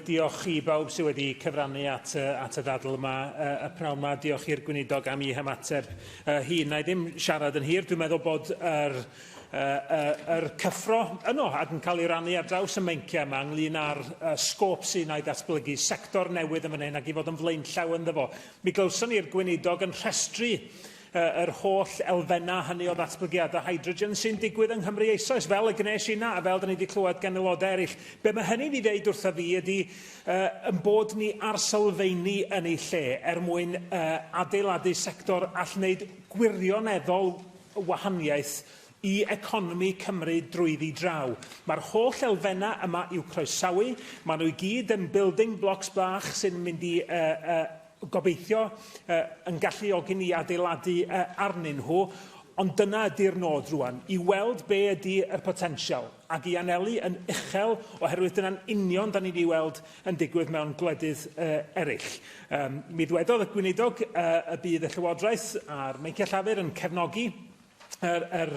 Diolch i bawb sydd wedi cyfrannu at, at y ddadl yma, y pnawn yma. Diolch i'r gweinidog am ei hymateb uh, hi. Na i ddim siarad yn hir. Dwi'n meddwl bod yr, uh, yr cyffro yno ac yn cael ei rannu ar draws y meinciau yma ynglyn â'r uh, sgôp sy'n ei datblygu, sector newydd yn fan hyn ac i fod yn flaenllaw ynddo fo. Mi glywson ni'r gweinidog yn rhestru yr holl elfennau hynny o ddatblygiadau hydrogen sy'n digwydd yng Nghymru eisoes, fel y gwnes i na, a fel da ni wedi clywed gan aelodau eraill. Be mae hynny'n ei ddeud wrtho fi ydy uh, yn bod ni ar sylfeini yn ei lle er mwyn uh, adeiladu sector all wneud gwirioneddol wahaniaeth i economi Cymru drwyddi draw. Mae'r holl elfennau yma i'w croesawu, maen nhw i gyd yn building blocks bach sy'n mynd i uh, uh, gobeithio, yn galluogi ni adeiladu arnyn nhw, ond dyna ydy'r nod rwan, i weld be ydy y potensial, ac i anelu yn uchel, oherwydd dyna'n union da ni'n ei weld yn digwydd mewn gwledydd eraill. Mi ddwedodd y Gweinidog y bydd y Llywodraeth a'r Meinciau Llafur yn cefnogi yr, yr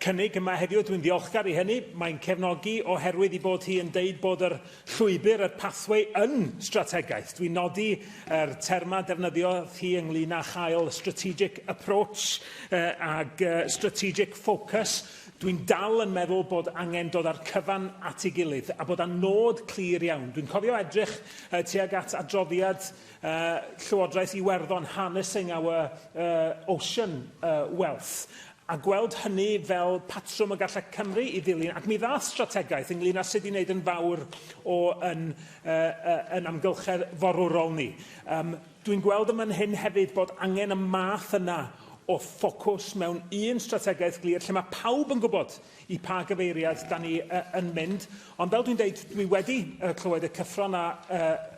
cynnig yma heddiw. Dwi'n ddiolchgar i hynny. Mae'n cefnogi oherwydd i bod hi yn deud bod yr llwybr, yr pathway, yn strategaeth. Dwi'n nodi yr terma defnyddio hi ynglyn â chael strategic approach uh, ag uh, strategic focus. Dwi'n dal yn meddwl bod angen dod â'r cyfan at ei gilydd a bod â nod clir iawn. Dwi'n cofio edrych uh, tuag at adroddiad Llywodraeth Iwerddon Harnessing Our Ocean Wealth, a gweld hynny fel patrwm y gallai Cymru i ddilyn, ac mi ddaeth strategaeth ynglyn â sut i wneud yn fawr o yn, yn amgylchedd forwrol ni. Dwi'n gweld yn fan hyn hefyd bod angen y math yna o ffocws mewn un strategaeth glir lle mae pawb yn gwybod i pa gyfeiriad da ni yn mynd, ond fel dwi'n dweud, dwi wedi clywed y cyffron a